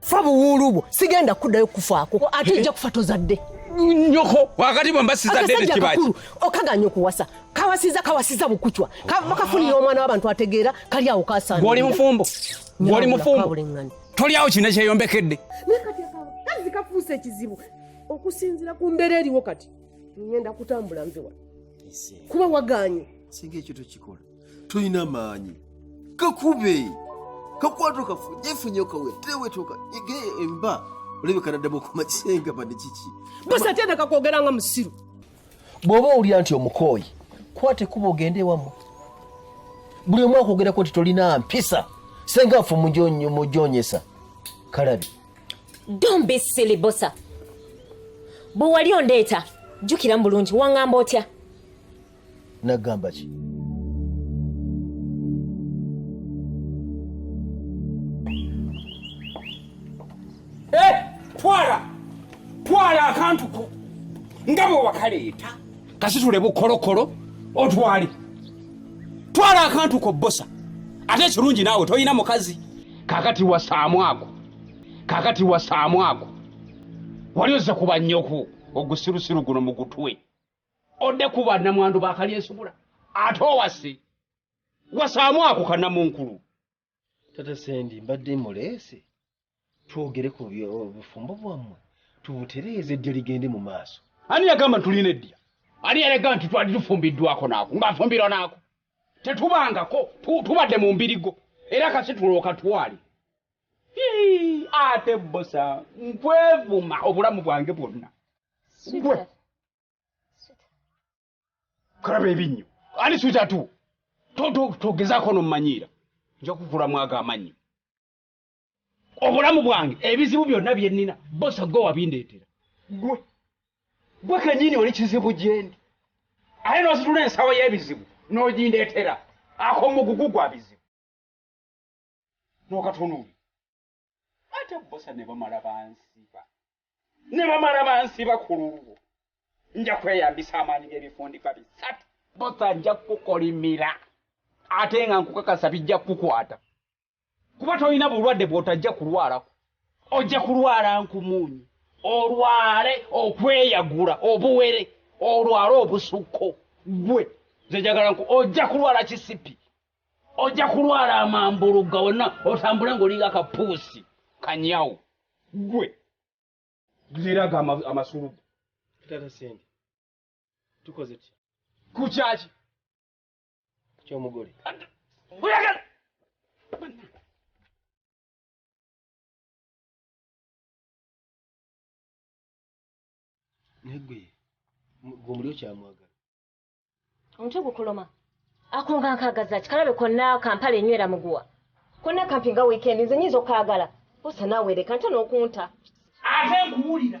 fa buwuulu bwo sigenda kuddayo kufaako ate ojja kufa tozadde nyoko wakati bwe mbasizadde nekibaki okaganya okuwasa kawasiza kawasiza bukucwa bakafunira ah. omwana w'abantu ategeera kali awo kasana gwoli mufumbo gwoli mufumbo toli awo kino kyeyombekedde kazi kafuusa ekizibu okusinzira ku mbeera eriwo kati ngenda kutambula nzewa kuba waganye singa ekyo tokikola tolina maanyi kakube kakwato kafu jefunye okawe tewetoka ege emba olabika naddamu okuma kisenga bade kiki bose atenda kakwogera nga musiru bw'oba owulira nti omukooyi kwata ekkuba ogende ewamu buli omu akwogerako nti tolina mpisa senga nfu mujonyesa kalabi don't be silly bosa bwe wali ondeeta jjukira mu bulungi waŋŋamba otya nagamba ki eh, twala twala akantu ko nga bwe wakaleeta kasitule bukolokolo otwale twala akantu ko bbosa ate ekirungi naawe tolina mukazi kakati wasaamu ako kakati wasaamu ako wali ozze kuba nnyoku ogusirusiru guno mu gutwe odde kuba namwandu bakalyesubula ate owase wasaamu ako kanamunkulu tata sendi mbadde muleese twogere ku bufumbo bwammwe tubutereeze eddya ligende mu maaso ani yagamba tulina eddya ani yalega nti twali tufumbiddwako naako ngaafumbirwa naako tetubangako tubadde mu mbirigo era kasi tulooka twali ate bosa nkwevuma obulamu bwange bwonna gwe kulaba ebinnyo ani swita tu togezaako nomumanyiira nja kukulamu ago amannyo obulamu bwange ebizibu byonna bye nnina bosa gwe wabindeetera gwe gwe kenyini oli kizibu gyendi aye n'ositula ensawo y'ebizibu n'ogindeetera ako mugugu gwa bizibu n'okatunuuli ate bbosa ne bamala bansiba ne bamala bansiba ku lulwo nja kweyambisa amaanyi g'ebifundika bisatu bbosa nja kukukolimira ate nga nkukakasa bijja kukukwata kuba tolina bulwadde bw'otajja kulwalako ojja kulwala nkumuunyi olwale okweyagula obuwere olwale obusukko gwe nze njagala nku ojja kulwala kisipi ojja kulwala amambulugga wonna otambule ng'olinga kapuusi kanyawo gwe geraga amasulu tata sente tukoze ki ku kyaki kyomugole oyagala negwe gwe omuli okyamwagala omutwe gukuluma akonga nkagaza kikalabe konna kampala enywera muguwa konna kampi nga wiikendi nze nyinza okukagala osa nawereka nta n'okunta ate nkuwulira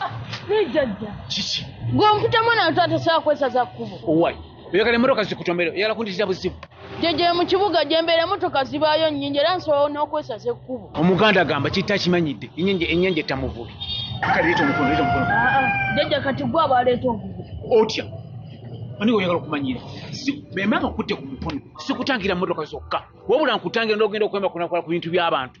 Ah, naye jajja kiki gwe omputa mwana watu atasobola kwesaza kkubo owai oyagala emotoka zikutomere oyagala kundizira buzibu jajja mu kibuga gyembeera emotoka zibaayo nnyingi era nsobola n'okwesaza ekkubo omuganda agamba kitta kimanyidde enyanja ettamuvubi ah, ah. jajja kati gwe abaleeta obubi otya ani oyagala okumanyira bemanga okutte ku mukono sikutangira motoka zokka wabula nkutangira nogenda okwemakunakola ku bintu by'abantu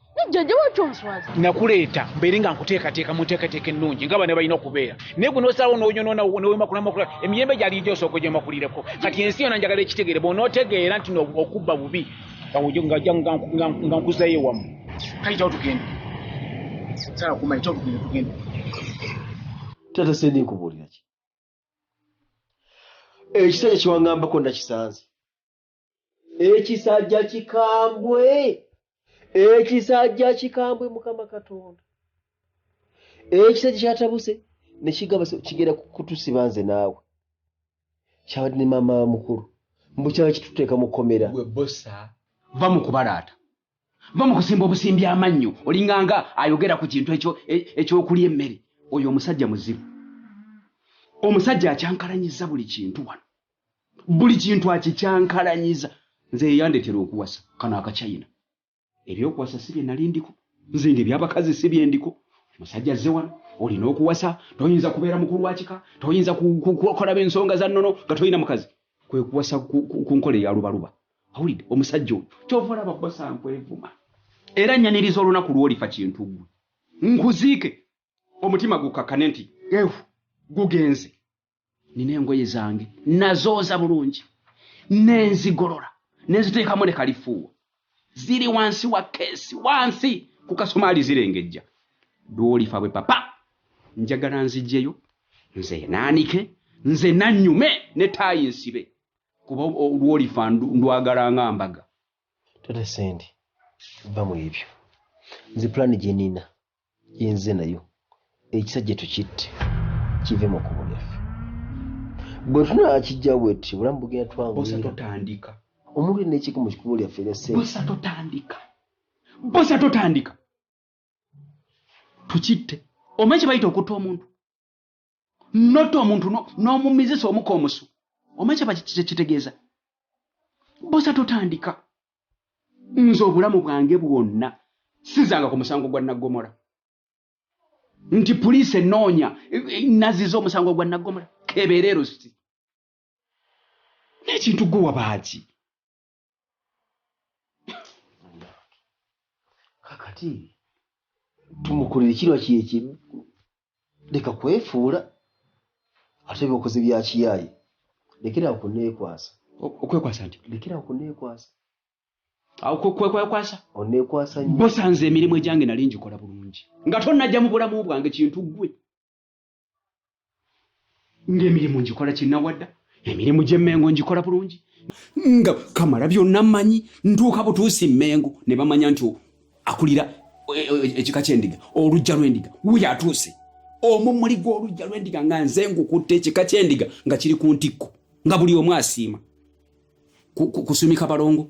jjajja waki onswaza nakuleeta mbeere nga nkuteekateeka mu nteekateeka ennungi nga bana balina okubeera naye gwe nosalawo noyonoona newemakulamakulaa emiyembe gyali gyo osooka ogyomakulireko kati ensi yona njagala ekitegeere bwonotegeera nti okubba bubi nga nkuzayo ewamu kayitawo tugende sala kumayitawo tugende tugende tata sendi nkubuulira ki ekisajja kiwangambako nakisanze ekisajja kikambwe ekisajja kikambwe mukama katonda ekisajja kyatabuse nekigamba kigenda kutusiba nze naawe kyabadde ne maama mukulu mbu kyaba kituteeka mukomera webosa va mu kubalaata va mu kusimba obusimbi amannyo olinganga ayogera ku kintu ekyo e, ekyokulya emmere oyo omusajja muzibu omusajja akyankalanyiza buli kintu wano buli kintu akikyankalanyiza nze yeyandetera okuwasa kano akachina ebyokuwasa si byenali ndiko nze nga ebyabakazi si byendiko musajja azze wano olina okuwasa toyinza kubeera mukulu wakika toyinza kukolaba ensonga za nnono nga tolina mukazi kwe kuwasa ku nkola eyalubaluba awulidde omusajja oyo kyova olaba bosa nkwevuma era nyaniriza olunaku lwolifa kintu gwe nkuziike omutima gukakane nti ehu gugenze nina engoye zange nazooza bulungi nenzigolola nenziteekamu ne kalifuuwa ziri wansi wa keesi wansi ku kasomaali zirengejja lwolifa bwe papa njagala nzijjeyo nze naanike nze nanyume ne taayi nsibe kuba lwolifa ndwagala nga mbaga tata sendi va mu ebyo nze pulaani gye nina yenze nayo ekisajja tukitte kive mu kubo lyaffe bwe tunaa kijja bweti obulamu bugenda twanguyira omuntu ena ekiko mu kikubo lyaffe lyasebosa totandika bosa totandika tukitte omanyi kye bayita okutta omuntu not omuntu n'omumizisa omuka omusu omanyi kitegeeza bosa totandika nze obulamu bwange bwonna sizanga ku musango gwa naggomola nti puliisi enoonya naziza omusango gwa naggomola kebeera erusi n'ekintu gwe wabaaki kakati tumukolere kirwa kyekimu leka kwefuula ate byokoze byakiyaye lekerawo kunekwasa okwekwasa nti lekerawo kunekwasa kwekwekwasa onekwasa bosanze emirimu egyange nali ngikola bulungi nga tonajja mu bulamu bwange kintu gwe ng'emirimu ngikola kinnawadda emirimu gy'emmengo ngikola bulungi nga kamala byonna mmanyi ntuuka butuusi mmengo ne bamanya nti akulira e, e, e, ekika ky'endiga olujja lw'endiga wuyo atuuse omumuli gw'olujja lw'endiga nga nze ngukutte ekika ky'endiga nga kiri ku ntikko nga buli omu asiima kusumika balongo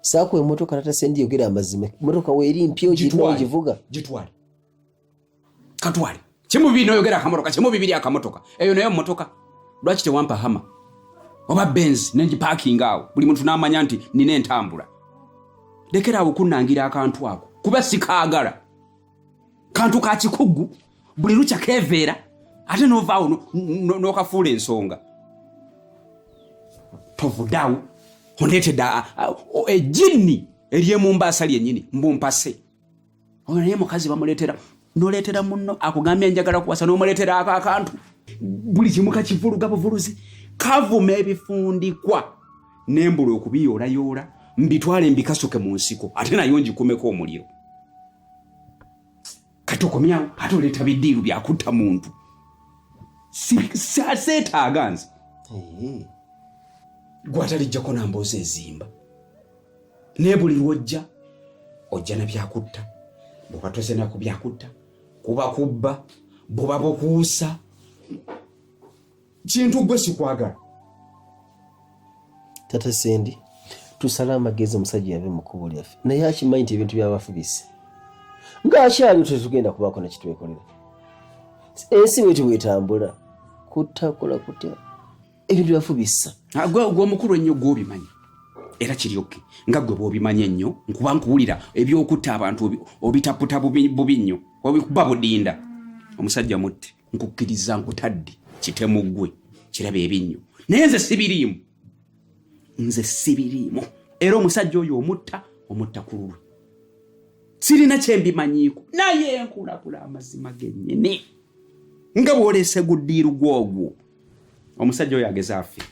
saako emotoka tatasendi yogera amazima emotoka weeri mpya ogivuga gitwale katwale kimu bibiri noyogera akamotoka kimu bibiri akamotoka eyo nayo motoka lwaki tewampa hama oba benz nengipakinga awo buli muntu namanya nti nina entambula lekera awo kunangira akantu ako kuba sikaagala kantu ka kikugu buli lukya keveera ate novaawo nokafuula ensonga tovudawo ondeetedde ejinni eryemumbaasa lyenyini mbumpase oyo naye mukazi bamuleetera noleetera muno akugambye njagala kuwasa nomuleetera ako akantu buli kimu kakivuluga buvuluzi kavuma ebifundikwa nembula okubiyoolayoola mbitwale mbikasuke mu nsiko ate nayo ngikumeko omuliro kati okomyawo ate oleeta bidiiru byakutta muntu seetaaga nze gwatalijjako namboozi ezimba naye buli lwojja ojja na byakutta bwoba tozenaku byakutta kuba kubba buba bukuusa kintu gwe sikwagala tata sendi tusale amagezi omusajja yave mu kkubo lyaffe naye akimanyi nti ebintu byabafubise ng'akyaliwo tetugenda kubaako nekitwekolera ensi bweti bwetambula kutakola kutya ebintu byafubisa ah, gwe omukulu ennyo gwobimanyi era kiri oke nga gwe bwobimanyi ennyo nkuba nkuwulira ebyokutta abantu obitaputa bubi nnyo obikuba budinda omusajja mutte nkukkiriza nkutadde kitemu ggwe kiraba ebinnyo naye nze sibiriimu nze sibiriimu era omusajja oyo omutta omutta ku lulwe sirina kyembimanyiiko naye nkulakula amazima genyini nga bwolese guddiiru gwogwo omusajja oyo ageze afe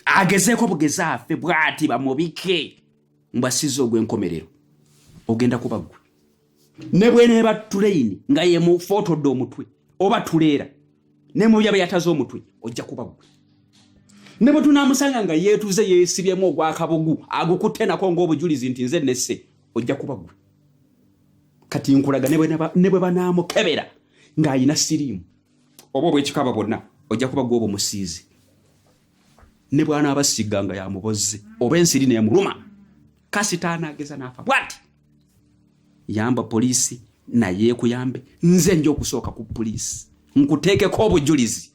agezeeko bugeze afe bwati bamubike mbasiza ogwenkomerero ogenda kuba gwe ne bweneeba tuleyini nga yemufootodde omutwe oba tuleera ne mu byaba yataze omutwe ojja kuba gwe ne bwe tunaamusanga nga yeetuze yeesibyemu ogwakabugu agukutte nako ng'obujulizi nti nze nesse ojja kuba gwe kati nkulaga ne bwe banaamukebera ng'alina siriimu oba obwekikaba bwonna ojja kuba gwe obumusiizi ne bwanaabasiga nga yamubozze oba ensiri neemuluma kasita anaageza n'afa bwati yamba poliisi naye ekuyambe nze nja okusooka ku poliisi nkuteekeko obujulizi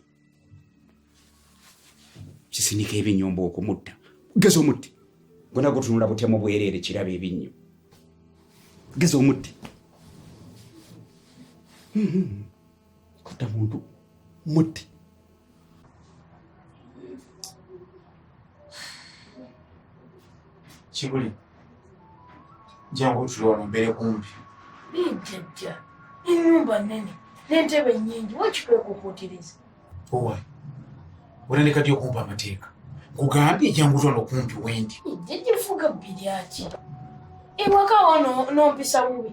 kisinika ebinyomba okumutta geza omutti gona gutunula butemu bwereere kiraba ebinnyo geza omutti hmm, hmm, hmm. kutta muntu mutti kibuli jangu otuli wano mbeere kumbi jajja enyumba nene nentebe nyingi wakikwekukuutiriza owa olandikati okumpa amateeka nkugambye jangu otwala okumpi wendi jajja efuga bbiri aki ewaka wa nompisa bubi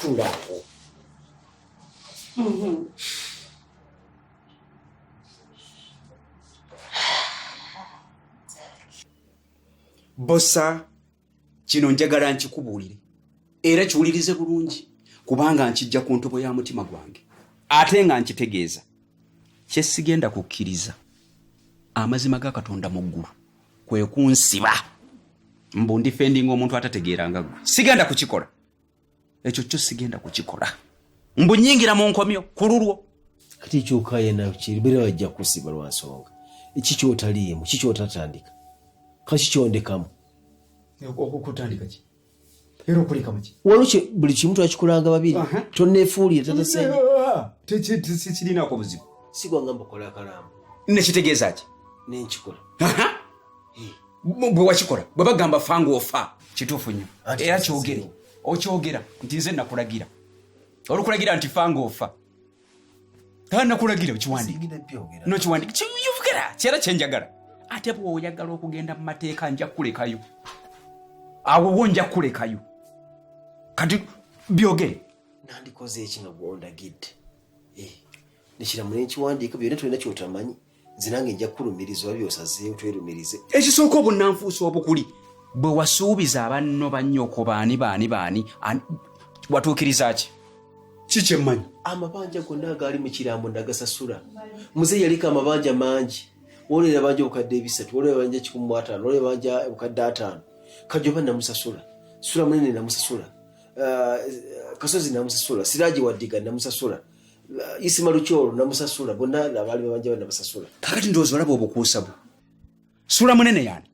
Tulako. Mm-hmm. bosa kino njagala nkikubuulire era kiwulirize bulungi kubanga nkijja ku ntobo ya mutima gwange ate nga nkitegeeza kyesigenda kukkiriza amazima ga katonda mu ggulu kwe kunsiba mbu ndifendinga omuntu atategeeranga gwe sigenda kukikola ekyo kyo sigenda kukikola mbu nyingira mu nkomyo ku lulwo kati kyoka yena kiribera bajja kusiba lwa nsonga eki kyotaliimu ki kyotatandika kaki kyondekamu okukutandika ki era okuleka muki waliwo buli kimu twakikolanga babiri tonefuulire tatasekirinako buzibu sigwanga mbukola akalamu nekitegeeza ki nenkikola bwe wakikola bwe bagamba fanga ofa kituufu nnyo era kyogere okyogera nti nze nakulagira olukulagira nti fanga ofa nakulagira okiwandiknokiwandikiyogera kyera kyenjagala ate bwoyagala okugenda mu mateeka nja kulekayo awowo nja kulekayo kati byogere nandikoze ekino gwondagidde eh, nekiramula enkiwandiiko byona tolina kyotamanyi nze nange nja kukulumiriza oba byosazeewo twerumirize ekisooka obunanfuusi obukuli bwe wasuubiza abanno bannyoko baani baani baani watuukiriza ki kikyemmanyi amabanja gonna agaali mu kirambo nagasasula muze yaliko amabanja mangi wolera abanja obukadde ebisatu wolera abanja kikumu mu ataano wolera abanja obukadde ataano kajoba namusasula sula munene namusasula uh, kasozi namusasula siraji wadiga namusasula isima lukyolo namusasula bonna abaali babanja bana basasula kakati ndowooza olaba obukuusa bwe sula munene yani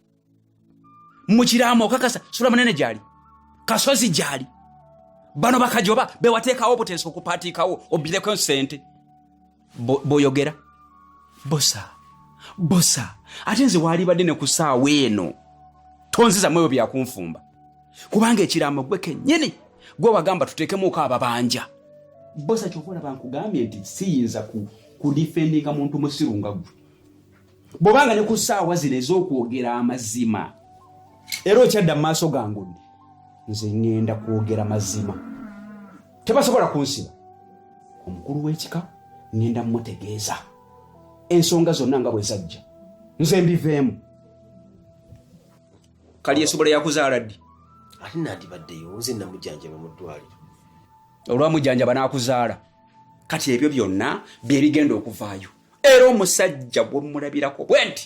mukiraamo okakasa sula munene gyali kasozi gyali bano bakajoba bewateekawo obuteesa okupaatiikawo obireko ensente boyogera bosa bosa ate nze waalibadde ne ku saawa eno tonzizamu ebyo byakunfumba kubanga ekiraamo gwe kennyini gwe wagamba tuteekemuuko ababanja bosa kyova olaba nkugambye nti siyinza kudifendinga muntu musiru nga gwe bwobanga ne ku ssaawa zino ez'okwogera amazima era okyadda mu maaso gangu ndi nze ŋŋenda kwogera mazima tebasobola kunsiba omukulu w'ekika ŋŋenda mmutegeeza ensonga zonna nga bwe zajja nze mbiveemu kali esobola yakuzaala ddi ate nandibaddeyo nze namujjanjaba mu ddwaliro olwamujjanjaba n'akuzaala kati ebyo byonna bye bigenda okuvaayo era omusajja bwe mulabirako bwe nti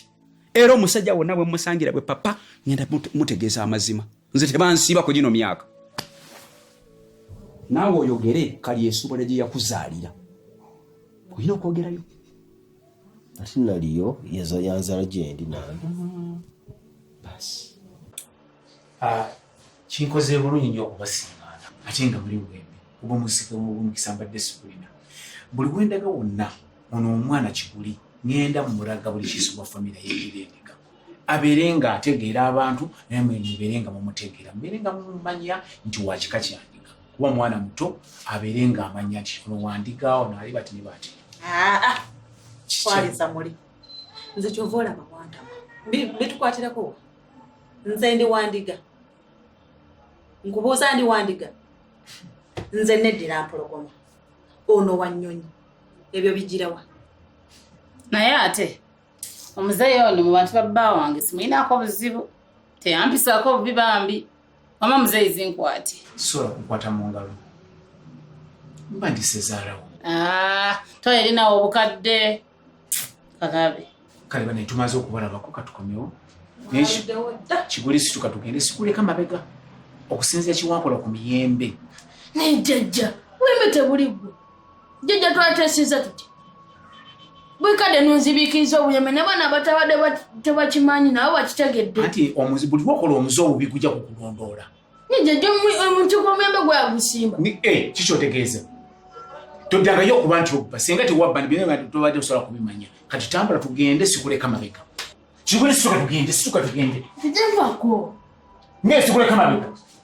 era omusajja wonna bwe musangira bwe papa ngenda mutegeeza amazima nze tebansiiba ku gino myaka naawe oyogere kali esobola gye yakuzaalira olina okwogerayo ate naliyo yaza yanzala gyendi nange basi ah, kinkoze bulungi nyo okubasingaana ate nga muli bwembi oba omusika omukisa mbadde sikulina buli wendaga wonna ono omwana kiguli ngenda mumulaga buli kiso bwa famiry yebirendeka abeere nga ategeera abantu naye mwe mubeere nga mumutegeera mubeere nga mumumanya nti wakika kyandiga kuba mwana muto abeere nga amanya nti ono wandiga ono ali bati ne bati ah, ah. kwaliza muli nze kyova olaba wantama bitukwatirako nze ndi wandiga nkubuuza ndi wandiga nze neddira mpologoma ono wanyonyi ebyo bigirawa naye ate omuzeeyi ono mu bantu babba wange simuyinaako buzibu teyampisaako obubi bambi mama muzeeyi zinkwate sisobola kukwata mu ngalo mba ndisezaalawo ah, toyerinawo obukadde kakabe kale bane tumaze okubalabako katukomewo kiguli situka tugende sikuleka mabega okusinzira kiwakola ku miyembe naye jajja wembe tebuli gwe jjajja twatesiza tuti bwekadde nunzibikiriza obuyeme nabaana abatabadde tebakimanyi nabo bakitegedde anti buli wakola omuze obubi gujja kukulondoola nijjajjamukikomembe gweyagusimba eh, kikyotegeeza toddangayo okuba nti obba singa tewabba nibtobadde osobola kubimanya kati tambula tugende sikuleka mabega kikule situka tugende situka tugende tujavako naye sikuleka mabega